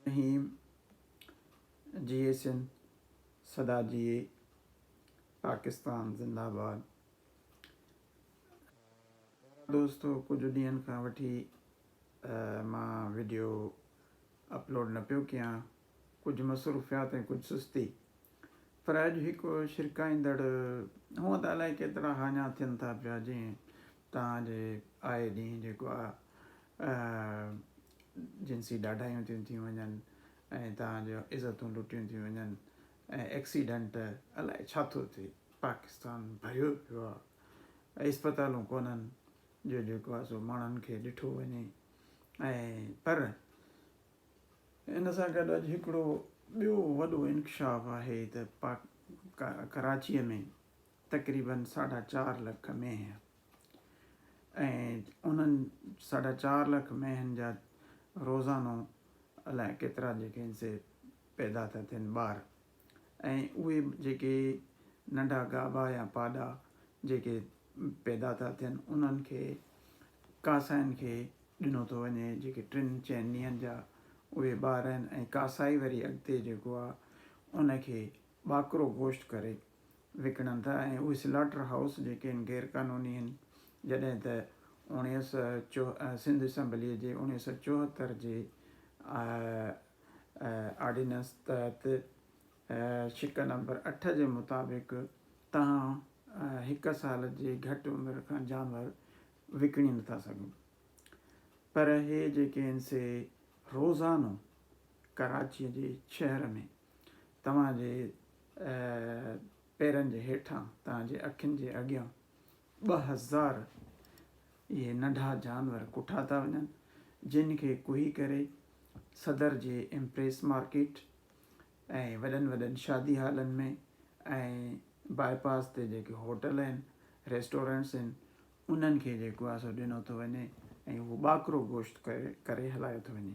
الرحيم جي اي سنڌ سدا جي اي پاڪستان زنده آباد دوستو ڪجهه ڏينهن کان وٺي مان ويڊيو اپلوڊ نه پيو ڪيان ڪجهه مصروفيات ۽ ڪجهه سستي. پر اڄ هڪ ڇرڪائيندڙ هونء ته الائي ڪيترا هاڃا ٿين ٿا پيا جيئن توهان جي آئي ڏينهن جيڪو آ جنسي ڏاڍايون ٿيون ٿي وڃن ۽ توهان جون عزتون لٽيون ٿيون وڃن ۽ ايڪسيڊنٽ الائي ڇا ٿو ٿئي پاڪستان ڀريو پيو آ اسپتالون ڪونهن جو جيڪو آ سو ماڻهن کي ڏٺو وڃي ۽ پر ان سان گڏ اڄ هڪڙو ٻيو وڏو انڪشاف آهي ته پاڪ ڪراچيء ۾ تقريباً ساڍا چار لک مينهن ۽ انهن ساڍا چار لک مينهن جا روزانو الائي ڪيترا جيڪي سي پيدا ٿا ٿين ٻار ۽ اهي جيڪي ننڍا گابا يا پاڏا جيڪي پيدا ٿا ٿين انهن کي ڪاسائين کي ڏنو ٿو وڃي جيڪي ٽن چئن ڏينهن جا اهي ٻار آهن ۽ ڪاسائي وري اڳتي جيڪو آهي ان کي ٻاڪرو گوشت ڪري وڪڻن ٿا ۽ اهي سلاٽر هائوس جيڪي آهن غير قانوني آهن جڏهن ته اوڻيهه سؤ چو سنڌ اسيمبليء جي اوڻيهه سؤ چوهتر جي آرڊيننس تحت شق نمبر اٺ جي مطابق توهان هڪ سال جي گهٽ عمر کان جانور وڪڻي نٿا سگهو پر هي جيڪي آهن سي روزانو ڪراچي جي شهر ۾ توهان جي پيرن جي هيٺان توهان جي اکين جي اڳيان ٻه هزار اهي ننڍا جانور ڪٺا ٿا وڃن جن کي ڪوهي ڪري صدر جي امپريس مارڪيٽ ۽ وڏن وڏن شادي هالن ۾ ۽ باء پاس تي جيڪي هوٽل آهن ريسٽورنٽس آهن انهن کي جيڪو آهي سو ڏنو ٿو وڃي ۽ اهو ٻاڪرو گوشت ڪري هلايو ٿو وڃي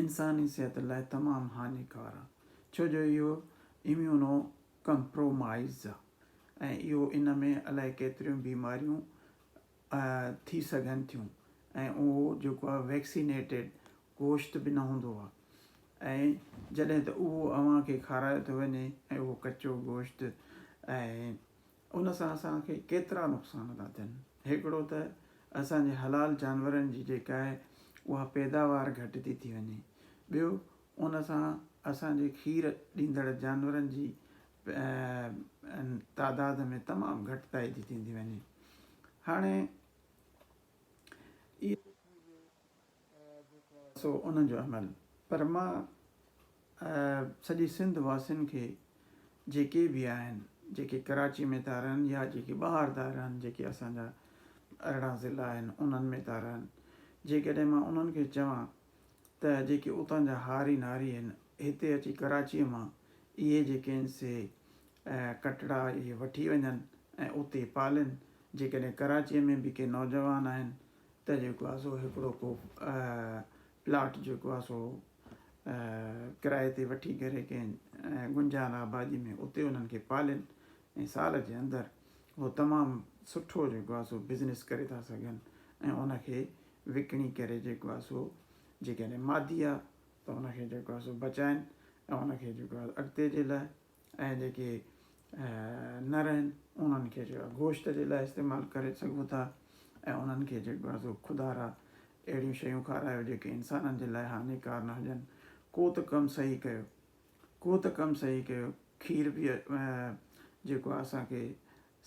انساني صحت لاء تمام هاڃيڪار آ ڇو جو اهو اميونو ڪمپرومائيز آ ۽ اهو ان ۾ الائي ڪيتريون بيماريون ٿي سگهن ٿيون ۽ اهو جيڪو آ ويڪسينيٽيڊ گوشت به نه هوندو آ ۽ جڏهن ته اهو اوهان کي کارايو ٿو وڃي ۽ اهو ڪچو گوشت ۽ ان سان اسان کي ڪيترا نقصان ٿا ٿين. هڪڙو ته اسان جي حلال جانورن جي جيڪا آهي اها پيداوار گهٽجي ٿي وڃي. ٻيو ان سان اسان جي کير ڏيندڙ جانورن جي تعداد ۾ تمام گهٽتائي ٿي ٿيندي وڃي. هاڻي. سو انهن جو عمل. پر مان سڄي سنڌ واسين کي جيڪي به آهن جيڪي ڪراچي ۾ ٿا رهن يا جيڪي ٻاهر ٿا رهن جيڪي اسان جا ارڙهن ضلعا آهن انهن ۾ ٿا رهن جيڪڏهن مان انهن کي چوان ته جيڪي اتان جا هاري ناري آهن هتي اچي ڪراچي مان اهي جيڪي آهن سي ڪٽڙا اهي وٺي وڃن ۽ اتي پالين جيڪڏهن ڪراچي ۾ به ڪي نوجوان آهن ته جيڪو آهي سو هڪڙو ڪو پلاٽ جيڪو آهي سو ڪرائي تي وٺي ڪري ڪنهن گنجان آبادي ۾ اتي انهن کي پالين ۽ سال جي اندر هو تمام سٺو جيڪو آهي سو بزنس ڪري ٿا سگهن ۽ ان کي وڪڻي ڪري جيڪو آهي سو جيڪڏهن مادي آهي ته ان کي جيڪو آهي سو بچائين ۽ ان کي جيڪو آهي اڳتي جي لاء ۽ جيڪي نه رهن انهن کي جو آهي گوشت جي لاء استعمال ڪري سگهو ٿا ۽ انهن کي جيڪو آهي سو خدارا اهڙيون شيون کارايو جيڪي انسانن جي لاء هاڃيڪار نه هجن ڪو ته ڪم صحيح ڪيو ڪو ته ڪم صحيح ڪيو کير به جيڪو آهي اسان کي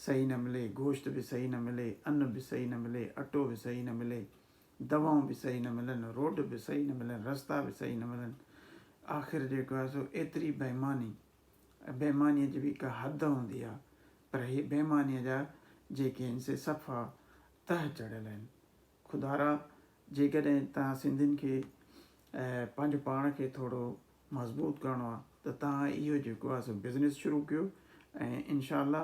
صحيح نه ملي گوشت به صحيح نه ملي ان به صحيح نه ملي اٽو به صحيح نه ملي دوائون به صحيح نه ملن، روڊ به صحيح نه ملن، رستا به صحيح نه ملن، آخر جيڪو آهي سو ايتري بيماني، بيمانيء جي به ڪا حد هوندي آهي، پر هي بيمانيء جا جيڪي آهن سي صفا تهه چڙهيل آهن. خدارا جيڪڏهن توهان سنڌين کي پنهنجو پاڻ کي ٿورو مضبوط ڪرڻو آهي ته توهان اهو جيڪو آهي سو بزنس شروع ڪيو ۽ انشاء الله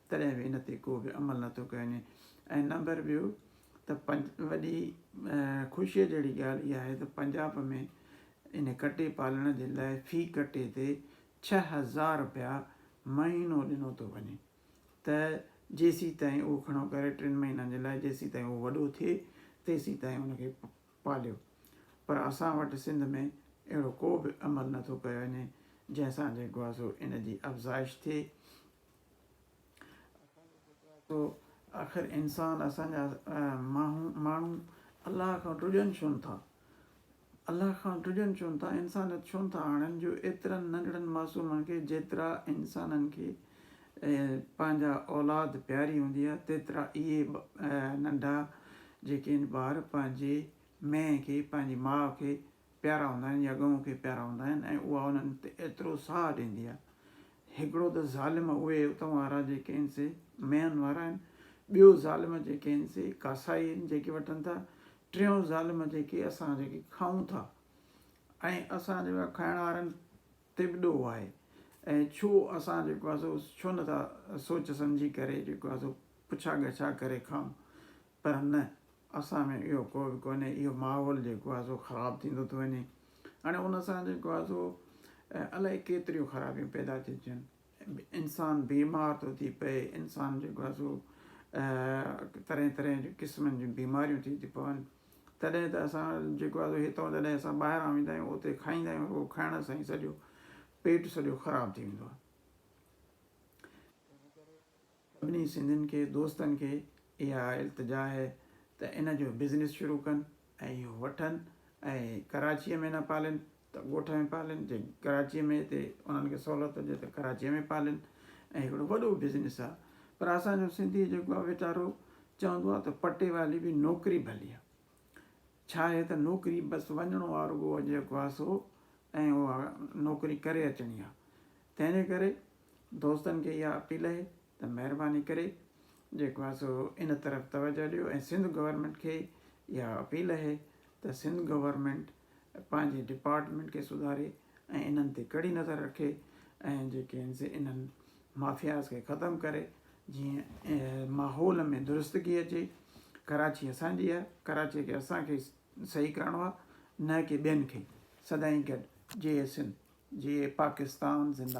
تڏهن به ان تي ڪو به عمل نه ٿو ڪيو وڃي ۽ نمبر ٻيو ته وڏي خوشيء جهڙي ڳالهه اها آهي ته پنجاب ۾ ان ڪٽي پالڻ جي لاء في ڪٽي تي ڇهه هزار رپيا مهينو ڏنو ٿو وڃي ته جيسيتائين اهو کڻو ڪري ٽن مهينن جي لاء جيسيتائين اهو وڏو ٿئي تيسيتائين ان کي پاليو پر اسان وٽ سنڌ ۾ اهڙو ڪو به عمل نه ٿو ڪيو وڃي جنهن سان جيڪو آهي سو ان جي افزائش ٿئي سو آخر انسان اسان جا ماڻهو الله کان ڊڄن ڇونه ٿا؟ الله کان ڊڄن ڇونه ٿا؟ انسانيت ڇونه ٿا آڻن جو ايترن ننڍڙن معصومن کي جيترا انسانن کي پنهنجا اولاد پياري هوندي آهي تيترا اهي ننڍا جيڪي ٻار پنهنجي مئي کي پنهنجي ماء کي پيارا هوندا آهن يا ڳئون کي پيارا هوندا آهن ۽ اها انهن تي ايترو ساهه ڏيندي آهي. هڪڙو ته ظالم اهي اتون وارا جيڪي هن سي ميهن وارا آهن، ٻيو ظالم جيڪي هن سي ڪاسائي هن جيڪي وٺن ٿا، ٽيون ظالم جيڪي اسان جيڪي کائون ٿا ۽ اسان جيڪو آهي کائڻ وارن تي به ڏوهه آهي ۽ ڇو اسان جيڪو آهي سو ڇو نه ٿا سوچ سمجهي ڪري جيڪو آهي سو پڇا ڳڇا ڪري کائون پر نه، اسان ۾ اهو ڪو به ڪونهي، اهو ماحول جيڪو آهي سو خراب ٿيندو ٿو وڃي هاڻي ان سان جيڪو آهي سو الائي ڪيتريون خرابيون پيدا ٿيون ٿين انسان بيمار ٿو ٿي پئي انسان جيڪو آهي سو طرح طرح جون قسمن جون بيماريون ٿي ٿيون پون تڏهن ته اسان جيڪو آهي سو هتان جڏهن اسان ٻاهران ويندا آهيون اتي کائيندا آهيون رڳو کائڻ سان ئي سڄو پيٽ سڄو خراب ٿي ويندو آهي سڀني سنڌين کي دوستن کي اها التجا آهي ته ان جو بزنس شروع ڪن ۽ اهو وٺن ۽ ڪراچيء ۾ نه پالين ته ڳوٺ ۾ پالين جي ڪراچيء ۾ هتي انهن کي سهولت هجي ته ڪراچيء ۾ پالين ۽ هڪڙو وڏو بزنس آهي پر اسان جو سنڌي جيڪو آهي ويچارو چوندو آهي ته پٽي والي به نوڪري ڀلي آهي ڇا آهي ته نوڪري بس وڃڻو آهي رڳو جيڪو آهي سو ۽ اها نوڪري ڪري اچڻي آهي تنهن جي ڪري دوستن کي اها اپيل اهي ته مهرباني ڪري جيڪو آهي سو ان طرف توجه ڏيو ۽ سنڌ گورنمينٽ کي اها اپيل اهي ته سنڌ گورنمينٽ پنهنجي ڊپارٽمينٽ کي سڌاري ۽ انهن تي ڪڙي نظر رکي ۽ جيڪي آهن سي انهن مافياز کي ختم ڪري جيئن ماحول ۾ درستگي اچي ڪراچي اسان جي آهي ڪراچي کي اسان کي صحيح ڪرڻو آهي نه ڪي ٻين کي سدائين گڏ جي اي سنڌ جي اي پاڪستان زنده